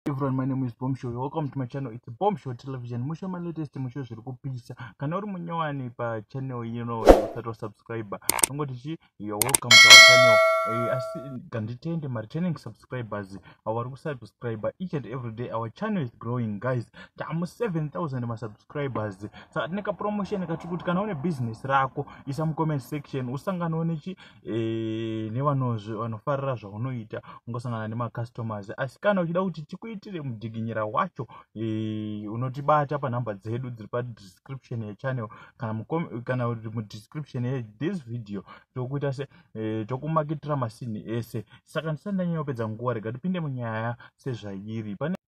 everyone my name is bomb show welcome to my channel it's bomb show television musho ma latest musho zviri kupisa kana uri munyowani pa channel ino usati wasubscribe ungoti chi you're welcome to our channel eh, asi nganditende ma returning subscribers avo vari kusubscribe each and every day our channel is growing guys tamu 7000 masubscribers saka tine kapromotion katikuti kana une business rako isa mucomment section usanganwe nechi e, nevanozve vanofarira zvaunoita ungosangana nemacustomers asi kana uchida kuti tikuitire mudiginyira wacho e, unotibata panhamba dzedu dziri padescription yechannel kana kana kuti mudescription yethis video tokuita se e, tokumakitira masinhi ese saka ndisati ndanyanyopedza nguva rega tipinde munyaya sezvairi pane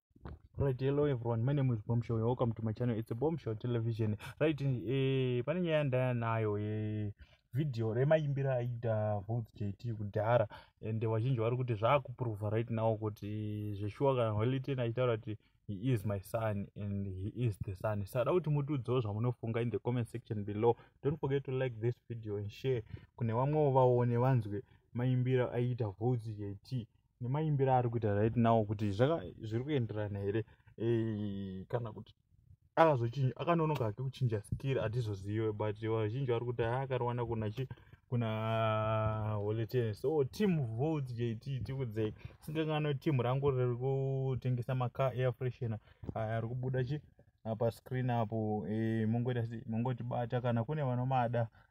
Right, hello everyone. My name is Bombshell. You're welcome to my channel. It's a Bombshell Television. Right, eh, pane nyaya ndaya nayo eh, video remaimbira aida Voz JT kudhara and vazhinji vari kuti zvaakuprova right now kuti zveshuwa kana Holiday achitaura kuti he is my son and he is the son. Sada kuti mutiudzewo zvamunofunga in the comment section below. Don't forget to like this video and share kune vamwewo vaone vanzwe maimbira aida Voz JT. nemaimbiro ari kuita right now kuti zviri kuenderana here eh, kana kuti akazochinja akanonoka hake kuchinja skill hatizozive but vazhinji vari kuti haakariwana kuna chi kuna holetene so team volt jt tikudzei singangano team rangu riri kutengesa macar air freshena aya ari kubuda chi apa screen apo eh, mongotibata kana kune vanomada